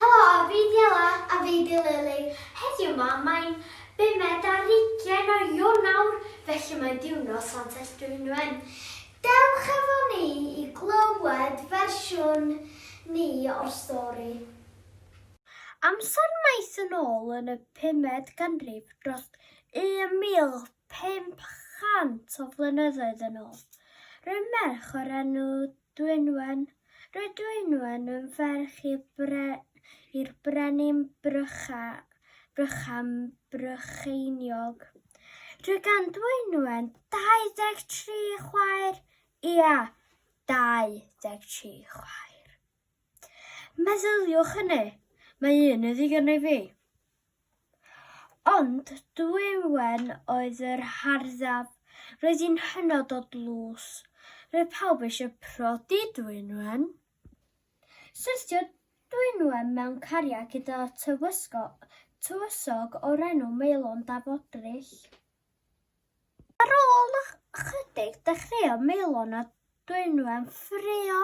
Helo a fi di Ella. A fi di Lily. Heddiw ma mae'n bumed ar ugain o Ionawr felly mae'n diwrnod Santes Dwynwen. Dewch efo ni i glywed fersiwn ni o'r stori. Amser maith yn ôl yn y pumed ganrif dros 1500 o flynyddoedd yn ôl, rhyw merch o'r enw Dwynwen, Roedd Dwynwen yn ferch i'r bre, i'r brenin Brycha, Brychan Brycheiniog. Roedd gan Dwynwen 23 chwaer, ia, 23 chwaer. Meddyliwch hynny, mae un yn ddigon i fi. Ond Dwywen oedd yr harddaf. Roedd hi'n hynod o dlws. Roedd pawb eisiau prodi Dwynwen. Syrthio Dwynwen mewn cariad gyda tywysog o'r enw Maelon Daf Odrich. Ar ôl ychydig, dechreuodd Maelon a Dwynwen ffraeo.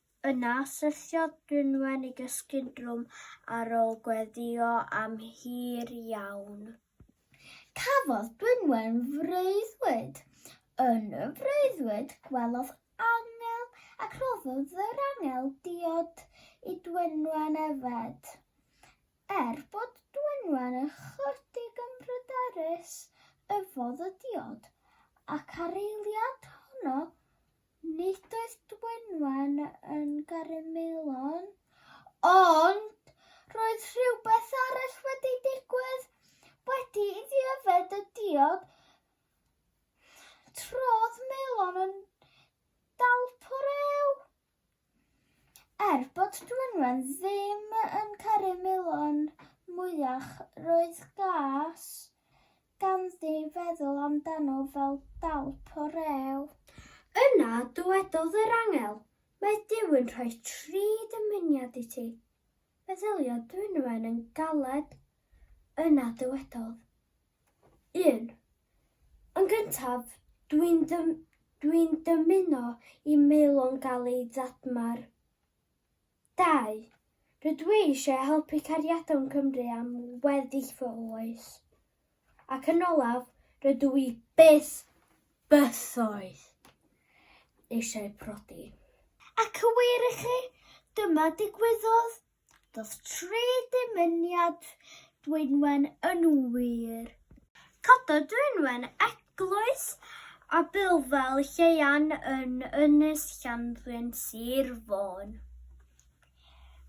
Yna, syrthiodd Brynwen i gysgu'n drwm ar ôl gweddïo am hir iawn. Cafodd Brynwen freuddwyd. Yn y freuddwyd, gwelodd angel, ac rhoddodd yr angel diod i Dwynwen yfed. Er bod Dwynwen ychydig yn bryderus, yfodd y diod, ac ar eiliad honno, Nid oedd Dwynwen yn garu Maelon, ond roedd rhywbeth arall wedi digwydd. Wedi iddi yfed y diod, trodd Maelon yn dalpwr ew. Er bod Dwynwen ddim yn caru Milon mwyach, roedd gas ganddi feddwl amdano fel dalp o rew. Yna dywedodd yr angel, Mae Duw yn rhoi tri dymuniad i ti. Meddyliodd Dwynwen yn galed. Yna dywedodd, 1. Yn gyntaf, dwi'n dwi'n dymuno i Maelon gael ei dadmar. Dau, rydw i eisiau helpu Cariadon Cymru am weddill fy oes. Ac yn olaf, rydw i byth, bythoedd, eisiau prodi. Ac yn wir i chi, dyma ddigwyddodd. Doth tri dymuniad Dwynwen yn wir. Cododd Dwynwen eglwys a bylfel Lleuan yn Ynys Llanddwyn, Sir Fôn.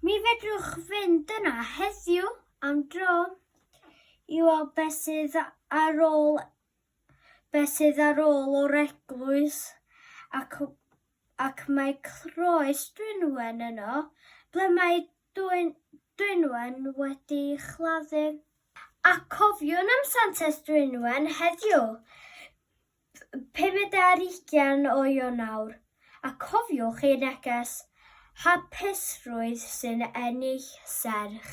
Mi fedrwch fynd yna heddiw am dro i weld beth sydd ar ôl beth sydd ar ôl o'r eglwys ac ac mae croes Dwynwen yno, ble mae dwyn, Dwynwen wedi chladdu. A cofiwn am Santes Dwynwen heddiw, 50 o Ionawr, a cofiwch ei neges, Hapusrwydd sy'n ennill serch.